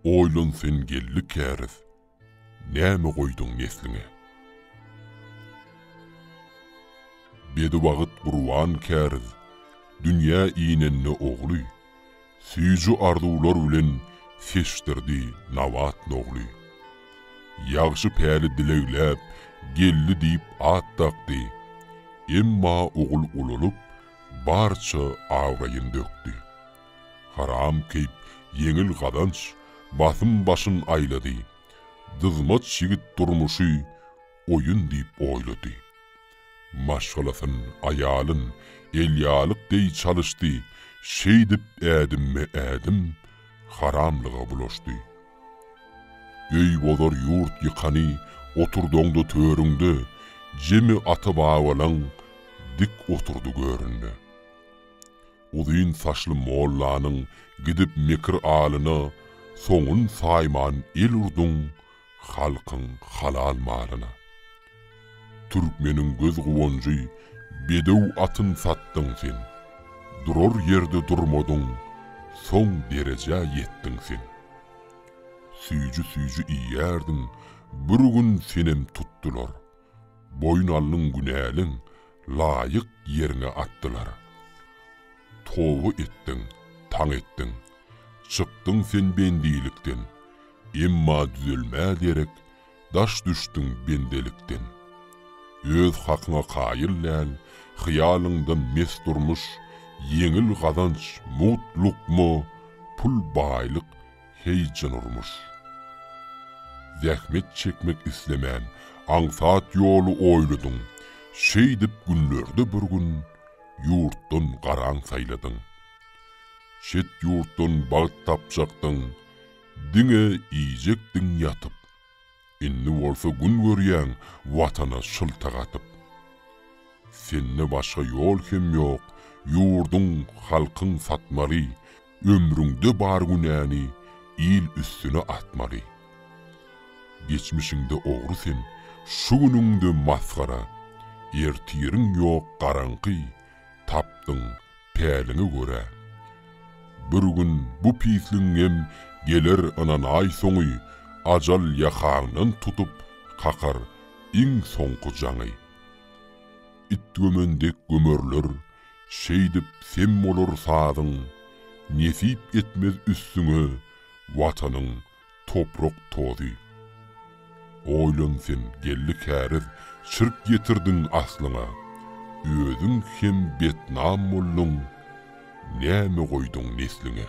Oýlan sen geldi käriz, näme goýduň nesliňe? Bedibagyt gurban käriz, dünýä inende ogly, Süýji arzuwlar bilen seçdirdi Nabat nogly. Ýagşy päli dilegläp, geldi diýip at dakdy. Emma ogul ulalyp, barça abraýyn dökdi. Haram keýp ýeňil gazanç basym başyn aýlady. Dyzmaç ýigit durmuşy oýun diýip oýlady. Maşgalasyn, aýalyn, elýalyk deý çalyşdy, şeýdip ädimme-ädim haramlyga bulaşdy. Öý bozar ýurt ýykany oturdaňda törüňde, jemi ata-babalaň dik oturdy göründe. Uzyn saçly mollanyň gidip mekir alyna soňun saýman el urduň, halkyň halal malyna. Türkmeniň göz guwanjy bedew atyn satdyň sen, durar ýerde durmadyň, soň derejä ýetdiň sen. Süýji-süýji iýýärdiň, bir gün senem tutdular, boýun aldyň günäliň, laýyk ýeriňe atdylar. Toba etdiň, taň etdiň, çykdyň sen bendilikden, Emma düzelmä derek daş düşdüň bendelikden. Öz hakyňa kaýyl däl, hyýalyňdan mes durmuş, ýeňil gazanç, mugt lukma, pul, baýlyk, heýjan urmuş. Zähmet çekmek islemän, aňsat ýoly oýladyň, şeýdip günlerde bir gün ýurtdan garaň saýladyň. Çet ýurtdan bagt tapjakdyň, Diňe iýjekdiň ýatyp. Indi bolsa gün görýäň Watana şyltak atyp. Sende başga ýol hem ýok, ýurduň, halkyň satmaly, Ömrüňde bar günäni il üstüne atmaly. Geçmişiňde ogry sen, şu günüňde masgara, Ertiriň ýok garaňky, tapdyň, päliňe görä. Bir gün bu pisligiňem geler ynanaý soňy ajal ýakaňdan tutup kakar iň soňky jaňy. Itgömen dek gömerler şeýdip sem bolar sazyň nesip etmez üstüňe watanyň toprak tozy. Oýlan sen, geldi käriz, çirk ýetirdiň aslyňa, özüň hem betnam bolduň, näme goýduň nesliňe.